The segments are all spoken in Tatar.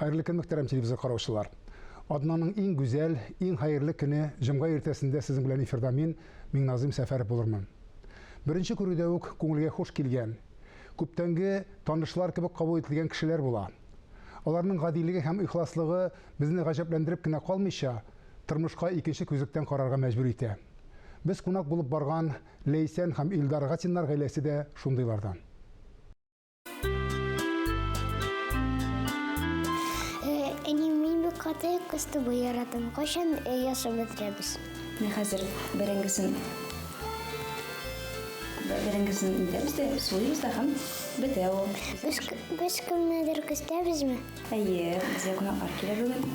Хәерле көн, мөхтәрәм телевизор караучылар. Аднаның иң гүзәл, иң хәерле көне җомга иртәсендә сезнең белән эфирда мин, Миңназыйм Сәфәров булырмын. Беренче күрүдә үк күңелгә хуш килгән, күптәнге танышлар кебек кабул ителгән кешеләр була. Аларның гадилеге һәм ихласлыгы безне гаҗәпләндереп кенә калмыйча, тормышка икенче күзлектән карарга мәҗбүр итә. Без кунак булып барган Ләйсән һәм Илдар Гатиннар гаиләсе дә шундыйлардан. Катык кысты бу яратым. Кайчан ясап бетерәбез? Мин хәзер бәрәңгесен бәрәңгесен итәбез дә суйбыз да һәм бетә ул. Без без кемнедер көстәбезме? Әйе, безгә кунаклар килә бүген.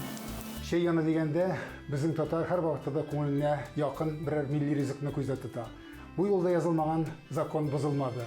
Чәй яны дигәндә, безнең татар һәр вакытта да күңеленә якын берәр милли ризыкны күздә тота. Бу юлда язылмаган закон бозылмады.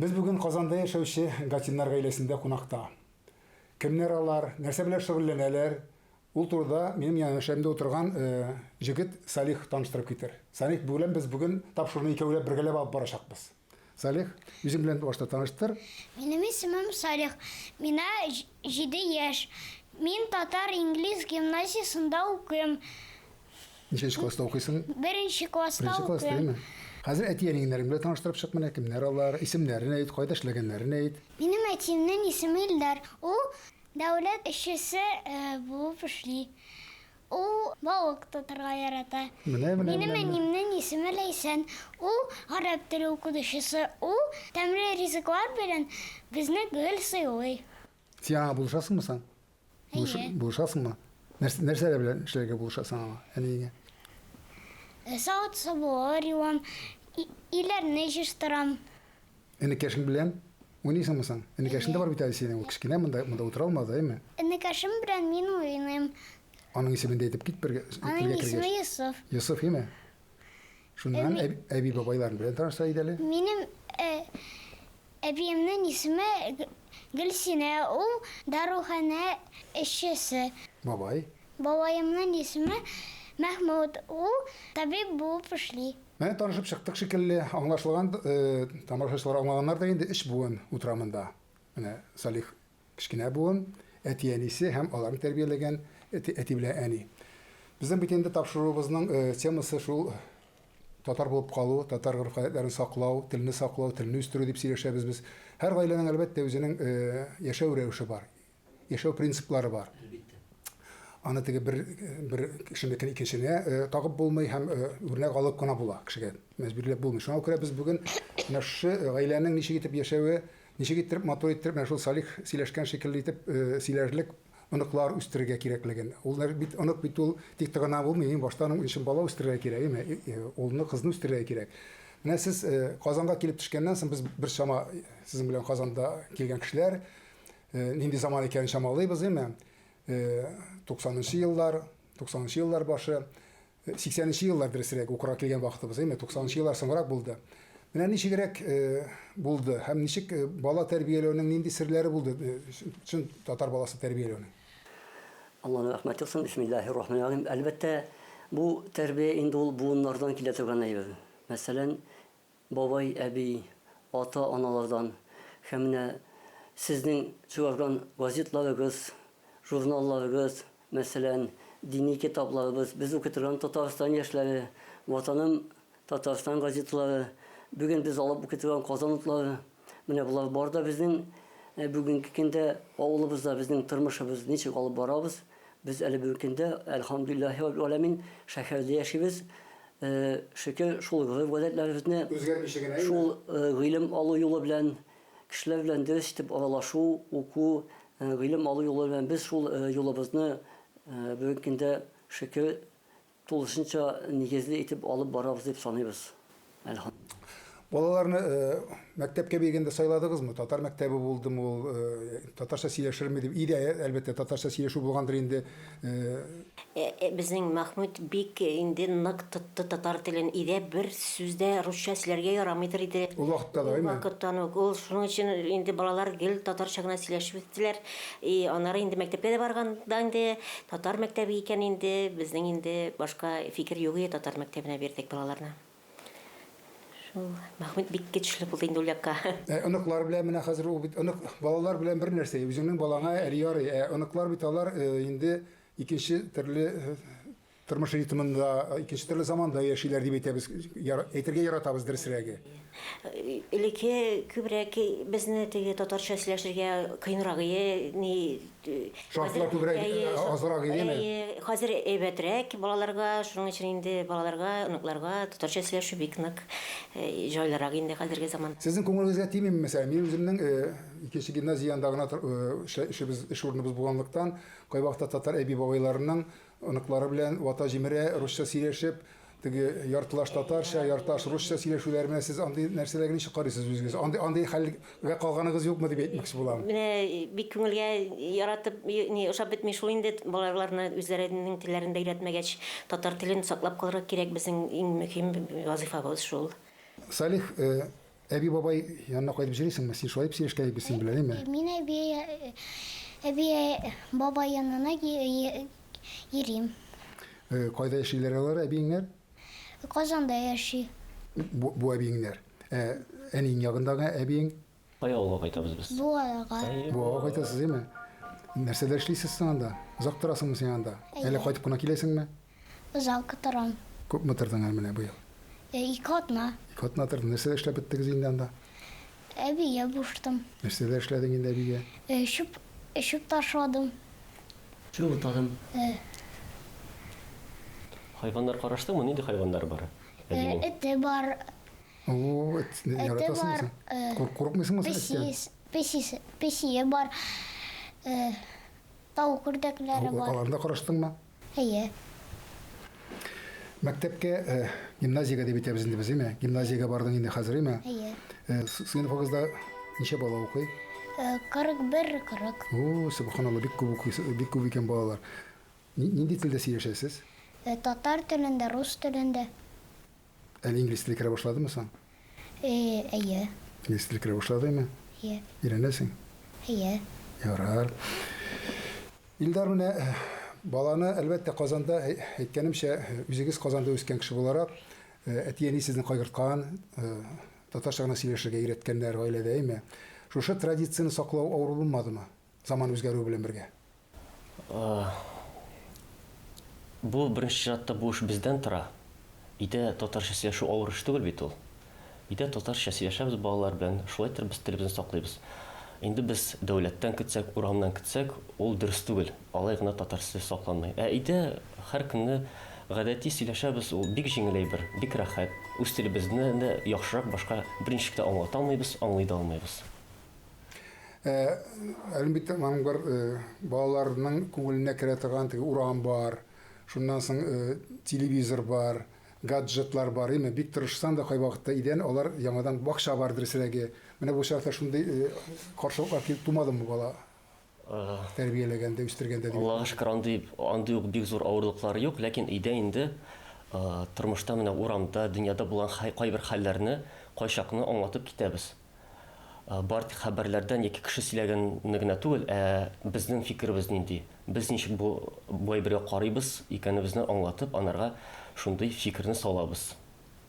Без бүген Казанда яшәүче Гатиннар гаиләсендә кунакта. Кемнәр алар, нәрсә белән шөгыльләнәләр, ул турыда минем янәшәмдә утырган җегет Салих таныштырып китер. Салих белән без бүген тап шуны икәүләп бергәләп алып барачакбыз. Салих, үзең белән башта таныштыр. Минем исемем Салих, мина җиде яшь. Мин татар-инглиз гимназиясендә укыйм. Ничәнче класста укыйсың? Беренче класста Беренче класста, укыйм. әйме? Хәзер әти-әниңнәрең белән таныштырып чык менә, кемнәр алар, исемнәрен әйт, кайда эшләгәннәрен әйт. Минем әтиемнең исеме Илдар. Ул дәүләт эшчесе булып эшли. Ул балык тотарга ярата. Менә, менә, Минем менә, менә. әниемнең исеме Ләйсән. Ул гарәп теле укытучысы. Ул тәмле ризыклар белән безне гел сыйлый. Син аңа булышасыңмы соң? Әйе. Булышасыңмы? Нәрсә, нәрсәләр белән эшләргә булышасың аңа, әниеңә? Э, савыт сабуы юам, иләрне җыштырам. Энекәшең белән уйныйсыңмы соң? Энекәшең дә бар бит әле синең, ул кечкенә монда, монда утыра алмас, әйме? Энекәшем белән мин уйныйм. Аның исемен дә әйтеп кит бергә. Аның исеме Йосыф. Йосыф, әйме? Шуннан әби-бабайлар белән таныша иде әле. Минем әбиемнең исеме Гөлсинә, ул даруханә эшчесе. Бабай? Бабаемның исеме Мәхмүт, ул табиб булып эшли. Менә танышып чыктык шикелле, аңлашылган, тамашачылар аңлаганнар да инде, өч буын утыра монда. Менә Салих Кечкенә буын, әти-әнисе һәм аларны тәрбияләгән әти белән әни. Безнең бит инде тапшыруыбызның темасы шул татар булып калу, татар гореф-гадәтләрен саклау, телне саклау, телне үстерү дип сөйләшәбез без. Һәр гаиләнең, әлбәттә, үзенең яшәү рәвеше бар, яшәү принциплары бар. Әлбиттә. Аны теге бер, бер кешенекен икенчене тагып булмый һәм үрнәк алып кына була кешегә мәҗбүрләп булмый. Шуңа күрә без бүген менә шушы гаиләнең ничек итеп яшәве, Ничек иттереп, матур иттереп, менә шул Салих сөйләшкән шикелле итеп сөйләрлек оныклар үстерергә кирәклеген. Ул бит онык бит ул тик тыгына булмый, иң башта аның өчен бала үстерергә кирәк, име? Улны, кызны үстерергә кирәк. Менә сез Казанга килеп төшкәннән соң без бер чама сезнең белән Казанда килгән кешеләр нинди заман икәнен чамалыйбыз, име? 90 нчы еллар, 90 нчы еллар башы. Сиксәненче еллар, дөресрәк, укырга килгән вакытыбыз, әйме, туксанынчы еллар соңрак булды. Менә ничегрәк булды һәм ничек бала тәрбияләүнең нинди серләре булды чын татар баласы тәрбияләүнең? Алланың рәхмәте яусын, бисмиллаһи рахмани рахим. Әлбәттә, бу тәрбия инде ул буыннардан килә торган әйбер. Мәсәлән, бабай, әби, ата, аналардан һәм менә сезнең чыгарган газетларыгыз, журналларыгыз, мәсәлән, дини китапларыбыз, без укый торган Татарстан яшьләре, Ватаным Татарстан газеталары, бүген без алып укый торган Казан утлары, Менә болар бар да безнең э, бүгенге көндә авылыбызда безнең тормышыбыз ничек алып барабыз. Без әле бүгенге көндә, әлхамдулиллахи раббил аләмин, шәһәрдә яшибез. Э, шөкер, шул гореф-гадәтләребезне, Үзгәрмичә генә, әйе. шул э, гыйлем алу юлы белән, кешеләр белән дөрес итеп аралашу, уку, э, гыйлем алу юлы белән без шул э, юлыбызны э, бүгенге көндә, шөкер, Тулысынча нигезле итеп алып барабыз дип саныйбыз, әлхамдулилла. Балаларны мәктәпкә биргәндә сайладыгызмы? Татар мәктәбе булдымы ул? Татарча сөйләшерме дип. Өйдә, әлбәттә, татарча сөйләшү булгандыр инде. Безнең Мәхмүт бик инде нык тотты татар телен. Өйдә бер сүз дә русча сөйләргә ярамыйдыр иде. Ул вакытта да, әйме? Ул вакыттан ук. Ул шуның өчен инде балалар гел татарча гына сөйләшеп үстеләр. И аннары инде мәктәпкә дә барганда инде татар мәктәбе икән инде, безнең инде башка фикер юк иде, татар мәктәбенә бирдек балаларны. Шул Мәхмүт бик көчле булды инде ул якка. Ә оныклар белән менә хәзер ул бит онык балалар белән бер нәрсә, үзеңнең балаңа әле ярый, ә оныклар бит алар инде икенче төрле Тормыш ритмында икенче төрле заманда яшиләр дип әйтәбез, әйтергә яратабыз дөресрәге. Элекке күбрәк безне теге татарча сөйләшергә кыенрак иде, ни Шартлар күбрәк азрак идеме? Хәзер әйбәтрәк балаларга, шуның өчен инде балаларга, оныкларга татарча сөйләшү бик нык җайлырак инде хәзерге заман. Сезнең күңелегезгә тимиме, мәсәлән, мин үземнең икенче гимназия янында гына эшебез, эш урыныбыз булганлыктан, кайвакытта татар әби-бабайларының Оныклары белән вата җимерә, русча сөйләшеп, теге яртылаш татарча, ярташ русча сөйләшүләр белән сез андый нәрсәләргә ничек карыйсыз үзегез? Андый андый хәлгә калганыгыз юкмы дип әйтмәкче булам. Менә бик күңелгә яратып, ни, ошап бетми шул инде, балаларны үзләренең телләрендә өйрәтмәгәч, татар телен саклап калырга кирәк, безнең иң мөһим вазыйфабыз шул. Салих, Әби-бабай янына кайтып җырлыйсыңмы? Син шулай дип сөйләшкән иде, без синең белән, әйме? Мин әби, әби, бабай янына йөрим. Кайда яшиләр алар, әбиеңнәр? Казанда яши. Бу, бу әбиеңнәр. Ә әниең ягындагы әбиең? Кай авылга кайтабыз без? Буага. Буага кайтасыз, әйме? Нәрсәдә эшлисез соң анда? Озак торасыңмы син анда? Әллә кайтып кына киләсеңме? Озак торам. Күпме тордың әле менә быел? Ике атна. Ике атна тордың. Нәрсәләр эшләп беттегез инде анда? Әбигә булыштым. Нәрсәләр эшләдең инде әбигә? Чүп, чүп ташладым. Чүп утадым. Хайваннар караштыңмы? Нинди хайваннар бар әбинең? Эте бар. О-о, эт, яратасыңмы син? Курк, курыкмыйсыңмы син эттән? Песис, песис, песие бар. Тавык үрдәкләре бар. Аларны да караштыңмы? Әйе. Мәктәпкә, гимназиягә дип әйтәбез инде без, әйме? Гимназиягә бардың инде хәзер, әйме? Әйе. Сыйныфыгызда ничә бала укый? 41, 40. О, субханалла, бик күп укыйсы, бик күп икән балалар. Нинди телдә сөйләшәсез? Татар телендә, рус телендә. Әле инглиз теле керә башладымы соң? Әйе. Инглиз теле керә башладымы? Әйе. Өйрәнәсең? Әйе. Ярар. Илдар, менә баланы, әлбәттә, Казанда, әйткәнемчә, үзегез Казанда үскән кеше буларак, әти-әни сезне кайгырткан, татарча гына сөйләшергә өйрәткәннәр гаиләдә, әйме? Шушы традицияне саклау авыр булмадымы? заман үзгәрүе белән бергә? Бу, беренче чиратта, бу эш бездән тора. Өйдә татарча сөйләшү авыр эш түгел бит ул. Өйдә татарча сөйләшәбез балалар белән, шулайдыр без телебезне саклыйбыз. Инде без дәүләттән көтсәк, урамнан көтсәк, ул дөрес түгел, алай гына татарча сүз сакланмый. Ә өйдә һәр көнне гадәти сөйләшәбез, ул бик җиңел әйбер, бик рәхәт. Үз телебезне дә яхшырак башка берничек тә аңлата алмыйбыз, аңлый да алмыйбыз. Ә, әлбиттә, аның бер э, балаларның күңеленә керә торган теге урам бар, шуннан соң э, телевизор бар, гаджетлар бар, әйме, бик тырышсаң да кай вакытта идән, алар яңадан бакча бар дөресрәге. Менә бу чакта шундый э, каршылыклар килеп тумадымы бала? тәрбияләгәндә, үстергәндә дип. Аллага шөкер, андый, андый ук бик зур авырлыклары юк, ләкин өйдә инде тормышта менә урамда, дөньяда булган кайбер хәлләрне, кайчакны аңлатып китәбез. Бары тик хәбәрләрдән яки кеше сөйләгәнне генә түгел, ә безнең фикеребез нинди, без ничек бу, бу әйбергә карыйбыз икәнебезне аңлатып, анарга шундый фикерне салабыз.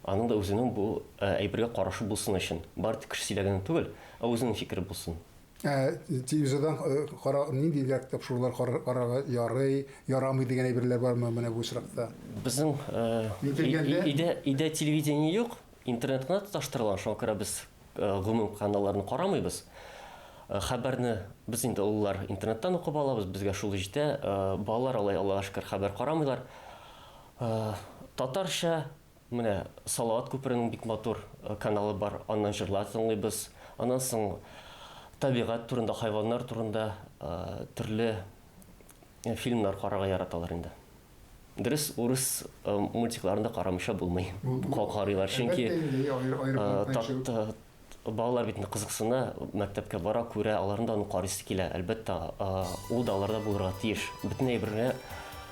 Аның да үзенең бу әйбергә карашы булсын өчен. Бары тик кеше сөйләгәнен түгел, ә үзенең фикере булсын. Ә телевизордан э, кара нинди дә тапшырулар кара- карарга ярый, ярамый дигән әйберләр бармы менә бу очракта? Безнең э, Мин кергәндә- и- и- өйдә, өйдә телевидение юк, интернет кына тоташтырылган, шуңа күрә без э, гомум каналларны карамыйбыз. Э, Хәбәрне без инде олылар интернеттан укып алабыз, безгә шул җитә. Э, Балалар алай, Аллага шөкер, хәбәр карамыйлар. Э, Татарча Менә Салават күперенең бик матур каналы бар, аннан җырлар тыңлыйбыз. Аннан соң табигать турында, хайваннар турында төрле фильмнар карарга яраталар инде. Дөрес, урыс мультикларын да карамыйча булмый. Карыйлар, чөнки Балалар бит инде кызыксына, мәктәпкә бара, күрә, аларны да карыйсы килә. Әлбәттә, ул да аларда булырга тиеш. Бөтен әйбергә,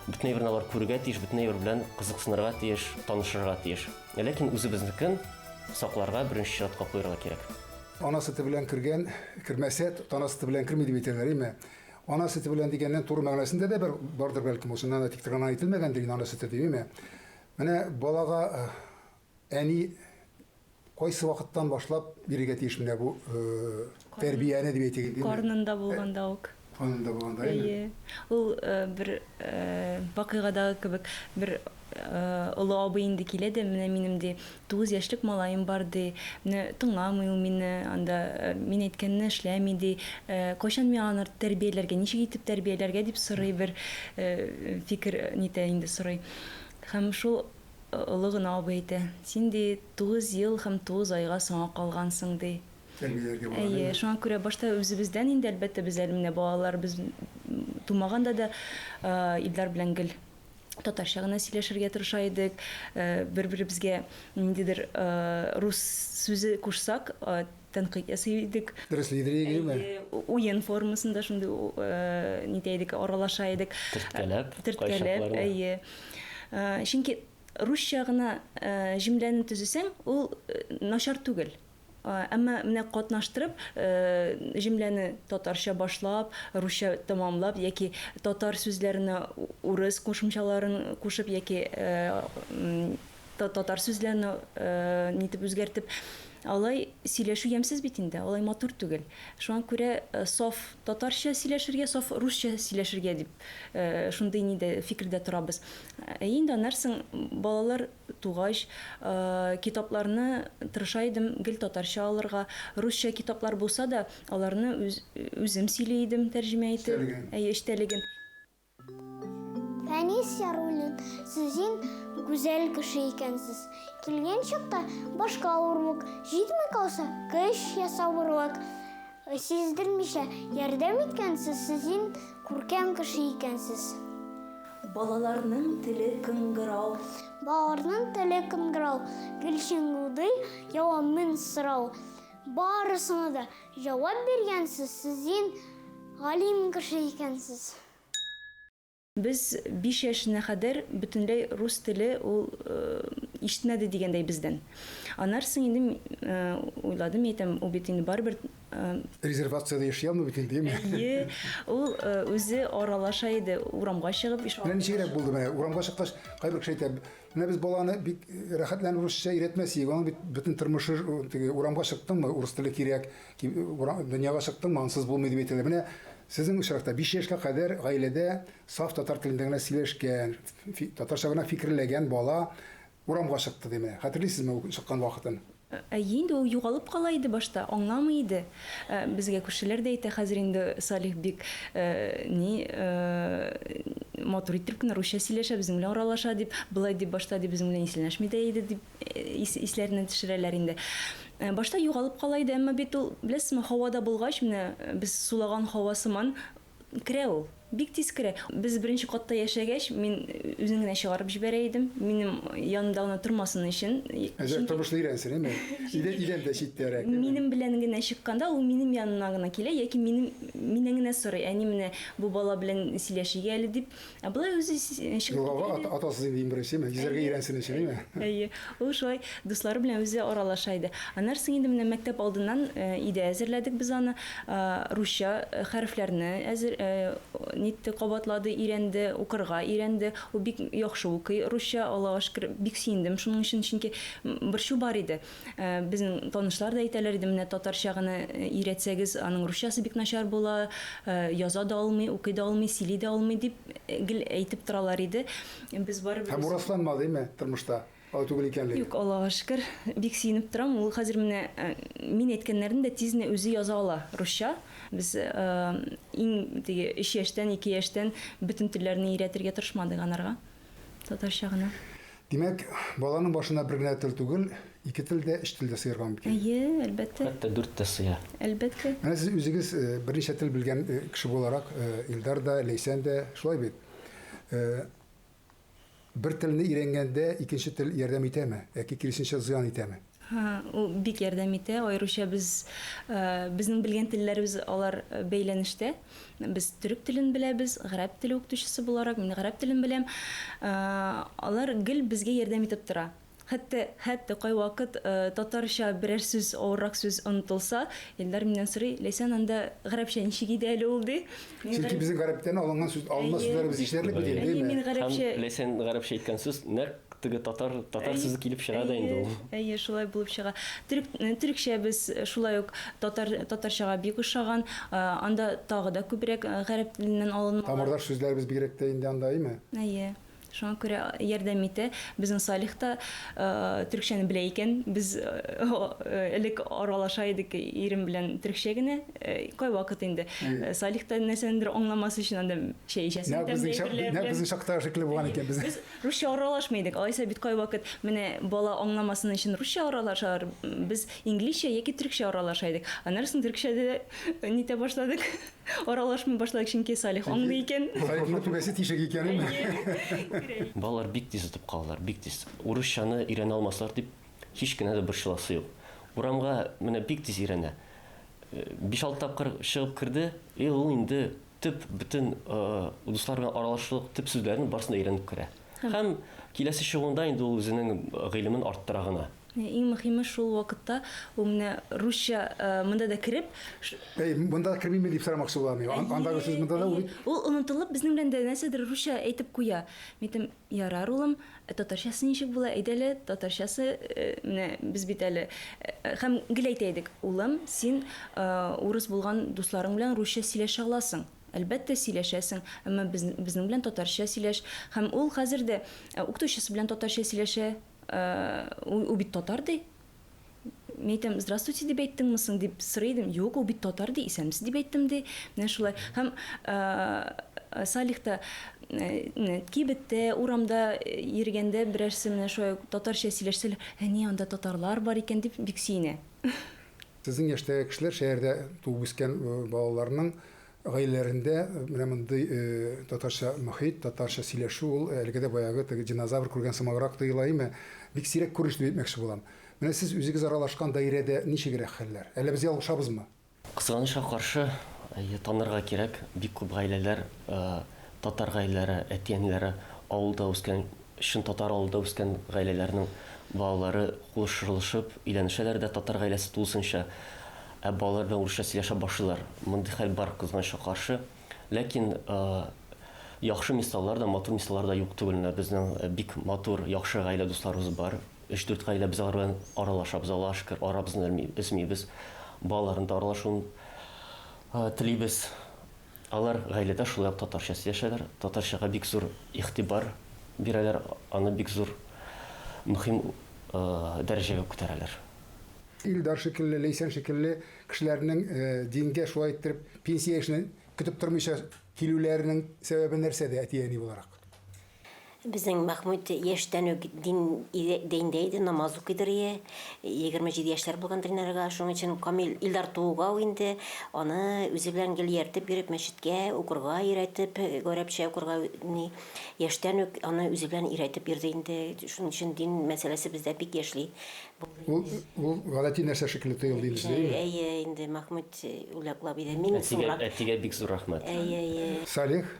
бөтен әйберне алар күрергә тиеш, бөтен әйбер белән кызыксынырга тиеш, танышырга тиеш. Ләкин үзебезнекен сакларга беренче чиратка куярга кирәк. Ана сөте белән кергән, кермәсә, тана сөте белән керми дип әйтәләр, әйме? Ана сөте белән дигәннән туры мәгънәсендә дә бер бардыр бәлкем, ул чыннан да тиктер гына әйтелмәгәндер инде ана сөте дип, әйме? Менә балага Әни кайсы вакыттан башлап бирергә тиеш менә бу тәрбияне дип әйтик инде. Карнында булганда ук. Карнында булганда әйе. Әйе. Ул бер вакыйгадагы кебек, бер олы абый инде килә дә, менә минем ди, тугыз яшьлек малаем бар ди, менә тыңламый ул мине, анда мин әйткәнне эшләми ди, кайчан мин аны тәрбияләргә, ничек итеп тәрбияләргә дип сорый бер фикер нитә инде сорый. Һәм шул Олы гына абый әйтә, Син, ди, тугыз ел һәм тугыз айга соңа калгансың, ди. Тәрбияләргә була, Әйе, әйеме? шуңа күрә башта үзебездән инде, әлбәттә, без әле менә балалар, без тумаганда да Илдар белән гел татарча гына сөйләшергә тырыша идек. Бер-беребезгә ниндидер рус сүзе кушсак, Тәнкыйть ясый идек. Дөрес лидер егеме? Уен формасында шундый нитә идек, аралаша идек. Төрткәләп, кайчакларда. Төрткәләп, әйе. Чөнки русча гына җөмләне төзесәң, ул начар түгел. Әмма менә катнаштырып, җөмләне татарча башлап, русча тәмамлап яки татар сүзләренә урыс кушымчаларын кушып яки татар сүзләрен э, нитеп үзгәртеп алай сөйләшү ямьсез бит инде алай матур түгел шуңа күрә э, саф татарча сөйләшергә саф русча сөйләшергә дип э, шундый нидә фикердә торабыз э, инде анарсың балалар тугач китапларны тырыша идем гел татарча алырга русча китаплар булса да аларны үз, үзем сөйли идем тәрҗемә итеп әй эчтәлеген Фәнис Яруллин, сезин гүзәл кеше икәнсез. Килгән чакта башка авырлык җитми калса, көч ясавырлык сиздермичә ярдәм иткәнсез, сезин күркәм кеше икәнсез. Балаларның теле кыңгырау. Балаларның теле кыңгырау, Гөлчиңгудый, яуамын сорау. Барысына да Җавап биргәнсез, сез дин галим кеше икәнсез. Без биш яшенә кадәр бөтенләй рус теле ул ишетмәде дигәндәй бездән. Аннары соң инде уйладым, мин әйтәм, ул бит инде барыбер. Резервациядә яши алмый бит инде, яме. Әйе, ул үзе аралаша иде, урамга чыгып. Менә ничегрәк булды менә, урамга чыккач, кайбер кеше әйтә, Менә без баланы бик рәхәт белән урысча өйрәтмәс идек. Аның бит бөтен тормышы теге урамга чыктыңмы, урыс теле кирәк, дөньяга чыктыңмы, ансыз булмый дип әйтәләр. Менә сезнең очракта биш яшькә кадәр гаиләдә саф татар телендә генә сөйләшкән, татарча гына фикерләгән бала урамга чыкты, ди менә. Хәтерлисезме ул чыккан вакытын? Әйе инде, ул югалып кала иде башта, аңламый иде. Безгә күршеләр дә әйтә, хәзер инде Салих бик ни матур иттереп кенә русча сөйләшә, безнең белән аралаша, дип, болай дип башта ди безнең белән исәнләшми дә иде, дип исләренә төшерәләр инде. Башта югалып кала иде, әмма бит ул, беләсезме, һавада булгач, менә без сулаган һава сыман Керә ул. Бик тиз керә. Без беренче катта яшәгәч, мин үзен генә чыгарып җибәрә идем. Минем янымда гына тормасын өчен. Әзрәк тормышны өйрәнсен, әйме? Идән, идән дә читтәрәк, әйме? Минем белән генә чыкканда, ул минем янына гына килә яки минем, миннән генә сорый, Әни, менә бу бала белән сөйләшик әле, дип. Ә болай үзе чыгып Югава ата, атасы дип дим беренче, мә йөзәргә өйрәнсен өчен, әйме? Әйе. Ул шулай дуслары белән үзе аралаша иде. Аннары соң инде менә мәктәп алдыннан э, иде әзерләдек без аны. Э, русча э, хәрефләрне әзер э, нитте, кабатлады, өйрәнде, укырга өйрәнде. Ул бик яхшы укый русча, Аллага шөкер, бик сөендем шуның өчен, чөнки м, борчу бар иде. Безнең танышлар да әйтәләр иде, менә татарча гына өйрәтсәгез, аның русчасы бик начар була, яза да алмый, укый да алмый, сөйли дә алмый, дип гел әйтеп торалар иде. Без барыбер. Һәм бу расланмадыймы тормышта, алай түгел икәнлеге? Юк, Аллага шөкер, бик сөенеп торам. Ул хәзер менә мин әйткәннәрне дә тиз генә үзе яза ала, русча. Без иң теге өч яшьтән, ике яшьтән бөтен телләрне өйрәтергә тырышмадык анарга. Татарча гына. Димәк, баланың башына бер генә тел түгел, ике тел дә, өч тел дә сыярга мөмкин. Әйе, әлбәттә. Хәтта дүрт тә сыя. Әлбәттә. Менә сез үзегез берничә тел белгән кеше буларак, Илдар да, Ләйсән дә шулай бит. Бер телне өйрәнгәндә икенче тел ярдәм итәме яки киресенчә зыян итәме? Һа, ул бик ярдәм итә, аеруча без, безнең белгән телләребез алар бәйләнештә. Без төрек телен беләбез, гарәп теле укытучысы буларак, мин гарәп телен беләм. Алар гел безгә ярдәм итеп тора. Хәтта, хәтта кайвакыт татарча берәр сүз, авыррак сүз онытылса, Илдар миннән сорый, Ләйсән, анда гарәпчә ничек иде әле ул, ди. Чөнки безнең гарәптән алынган сүз, алына сүзләребез җитәрлек бит инде, әйеме? Әйе, мин гарәпчә. Һәм Ләйсән гарәпчә әйткән сүз нәкъ Теге татар татар сүзе килеп чыга да инде ул. Әйе, шулай булып чыга. Төрек төрекчә без шулай ук татар татарчага бик ошаган. Анда тагы да күбрәк гарәп теленнән алынган. Тамырдаш сүзләребез бигрәк тә инде анда, әйме? Әйе. Шуңа күрә ярдәм итә. Безнең Салих та төрекчәне белә икән. Без элек аралаша идек ирем белән төрекчә генә. Кайвакыт инде Салих та нәрсәнедер аңламас өчен анда чәй эчәсең тәмле әйберләр белән. Нәкъ безнең чакта шикелле булган икән без. Русча аралашмый идек. Алайса бит кайвакыт менә бала аңламасын өчен русча аралашалар. Без инглизчә яки төркчә аралаша идек. Аннары соң төркчә дә нитә башладык. Аралашмый башладык, чөнки Салих аңлый икән. Салихның түбәсе тишек икәнен. Балалар бик тиз отып калалар, бик тиз. Урысчаны өйрәнә алмаслар дип һич кенә дә борчыласы юк. Урамга менә бик тиз өйрәнә. Биш-алты тапкыр чыгып керде, и ул инде төп бөтен дусларга аралашырлык төп сүзләрнең барысын өйрәнеп керә. Һәм киләсе чыгуында инде ул үзенең гыйлемен арттыра гына. Иң мөхиме шул вакытта ул менә русча монда да кереп. Әй, монда да кермиме дип сорамакчы була миңа. Андагы сүз монда да ул бит. Ул онытылып безнең белән дә нәрсәдер русча әйтеп куя. Мин әйтәм, Ярар, улым, ә татарчасы ничек була, әйдә әле, татарчасы, менә без бит әле, һәм гел әйтә идек, улым, син урыс булган дусларың белән русча сөйләшә аласың, әлбәттә, сөйләшәсең, әмма безнең белән татарча сөйләш, һәм ул хәзер дә укытучысы белән татарча сөйләшә, ул бит татар ди. Мин әйтәм, здравствуйте дип әйттеңме соң дип сорый идем. Юк, ул бит татар ди, исәнмесез дип әйттем ди. Менә шулай. Һәм ә, Салих та ә, кибеттә, урамда йөргәндә берәрсе менә шулай татарча сөйләшсә, әни анда татарлар бар икән дип бик сөенә. Сезнең яшьтәге кешеләр шәһәрдә туып үскән балаларның Гаиләләрендә менә мондый татарча мохит, татарча сөйләшү ул әлегә дә баягы теге динозавр күргән сымаграк тоела име? Бик сирәк күренеш дип әйтмәкче булам. Менә сез үзегез аралашкан даирәдә ничегрәк хәлләр? Әллә без ялгышабызмы? Кызганычка каршы, әйе, танырга кирәк, бик күп гаиләләр, татар гаиләләре, әти-әниләре авылда үскән Чын татар авылда үскән гаиләләрнең балалары кулышырылышып өйләнешәләр дә татар гаиләсе тулысынча, ә балалар белән урысча сөйләшә башлыйлар. Мондый хәл бар, кызганычка каршы. Ләкин яхшы мисаллар да, матур мисаллар да юк түгел. Менә безнең бик матур, яхшы гаилә дусларыбыз бар. Өч-дүрт гаилә без алар белән аралашабыз, Аллага шөкер, арабызны өзмибез. Балаларның да аралашуын телибез. Алар гаиләдә шулай ук татарча сөйләшәләр, татарчага бик зур игътибар бирәләр, аны бик зур мөһим дәрәҗәгә күтәрәләр. Илдар шикелле, Ләйсән шикелле кешеләрнең дингә шулай иттереп пенсия яшенә көтеп тормыйча килүләренең сәбәбе нәрсәдә әти-әни буларак? Безнең Мәхмүт яшьтән үк дин иде- диндә иде, намаз укыйдыр ие. Егерме җиде яшьләр булган Дилнарга, шуның өчен Камил Илдар тууга ук инде аны үзе белән гел ияртеп йөреп, мәчеткә укырга өйрәтеп, гарәпчә укырга ни, яшьтән үк аны үзе белән ияртеп йөрде инде. Шуның өчен дин мәсьәләсе бездә бик яшьли булды. Ул, ул гадәти нәрсә шикелле тоелды инде сезгә, әйеме? Әйе, инде Мәхмүт үләклап иде. Мин Әтигә, соңрак әтигә бик зур рәхмәт. Әйе, әйе. Салих,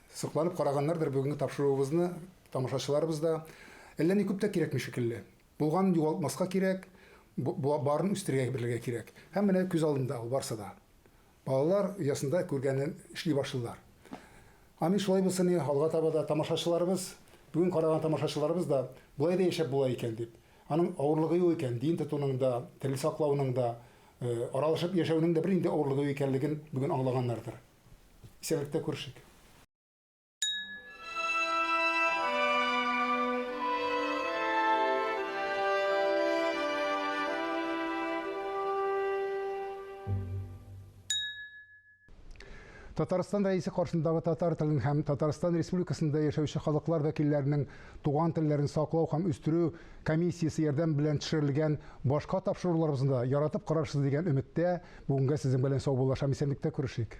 Сокланып караганнардыр бүгенге тапшыруыбызны тамашачыларыбыз да. Әллә ни күп тә кирәкми шикелле. Булганын югалтмаска кирәк, барын үстерергә белергә кирәк. Һәм менә күз алдында ул барсы да. Балалар оясында күргәнен эшли башлыйлар. Амин шулай булсын и алга таба да тамашачыларыбыз, бүген караган тамашачыларыбыз да болай да яшәп була икән дип, аның авырлыгы юк икән, дин тотуның да, тел саклауның да, аралашып яшәүнең дә бер инде авырлыгы юк икәнлеген бүген аңлаганнардыр. Исәнлектә күрешик. Татарстан рәисе каршындагы татар телен һәм Татарстан Республикасында яшәүче халыклар вәкилләренең Туган телләрен саклау һәм үстерү комиссиясе ярдәм белән төшерелгән башка тапшыруларыбызны да яратып карарсыз дигән өметтә, бүгенгә сезнең белән саубуллашам, исәнлектә күрешик.